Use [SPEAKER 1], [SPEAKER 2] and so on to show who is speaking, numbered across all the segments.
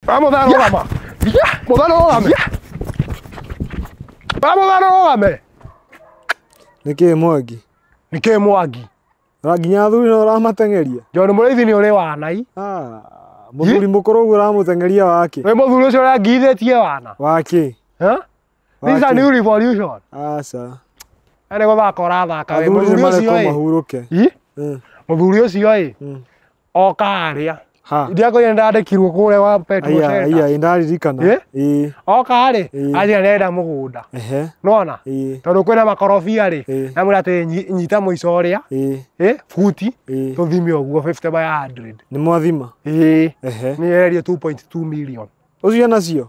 [SPEAKER 1] Vamos, dale, yeah. vamos. Yeah. Vamos, dale, vamos. Yeah. Vamos, dale, vamos.
[SPEAKER 2] Nĩkĩ mwagi? Nĩkĩ mwagi?
[SPEAKER 1] Na nginya athuri
[SPEAKER 2] no ũramateng'eria? Njono nĩ mũrĩithi nĩ ũrĩ
[SPEAKER 1] wanai. Ah, mũthuri
[SPEAKER 2] mũkũrũ ũguo ũramũteng'eria wake. Wĩ mũthuri ũcio ũrangirithĩtie
[SPEAKER 1] wana. Wake.
[SPEAKER 2] Huh?
[SPEAKER 1] These are new revolution. Aca.
[SPEAKER 2] Nĩ
[SPEAKER 1] gũthaka ũrathaka wĩ mũthuri ũcio ĩ. Mahurũke.
[SPEAKER 2] Mũthuri
[SPEAKER 1] ũcio ĩ. oka harĩa Ha. ndiakoire ndandĩkirwo kũrĩa wa Petro Aya, Center. aya, ĩ ndaririkana.
[SPEAKER 2] Eh? Ĩ, oka
[SPEAKER 1] harĩ Eh. anjĩra ndĩrenda mũgũnda ehe, nona ĩ, tondũ kwĩna makorobia rĩ Eh. namwĩra atĩ nyi- nyita mũico ũrĩa ĩ, ĩ, buti ĩ. tũthime ũguo 50 by 100 Nĩ mwathima. ĩ
[SPEAKER 2] Ehe.
[SPEAKER 1] nĩyererio 2.2 million Ũcio nacio.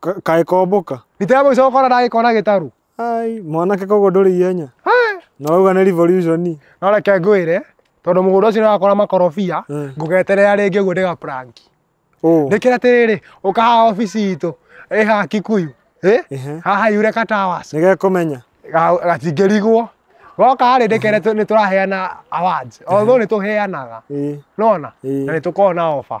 [SPEAKER 1] Ka- kaĩ kombũka
[SPEAKER 2] Gitebo icoka ona
[SPEAKER 1] ndagĩkona gĩtaru. ai mwanake
[SPEAKER 2] koguo ndũrĩ ihenya na wauga nĩ revolution No reke ngwĩre
[SPEAKER 1] tondũ mũgũnda ũcio nĩwakora makorobia Mm. ngũgeterera rĩngĩ ũguo ndĩga prank. oh Nĩkĩra atĩrĩrĩ ũka haha obici itũ ĩ haha Kikuyu ĩ Ehe. haha Yureka Towers nĩgekũmenya ga-
[SPEAKER 2] gatingĩrigwo.
[SPEAKER 1] Goka harĩ ndĩkere tũ- nĩtũraheana awards. Although nĩtũheanaga. ĩĩ Nona? Ĩĩ. Na nĩtũkoragwo na offer.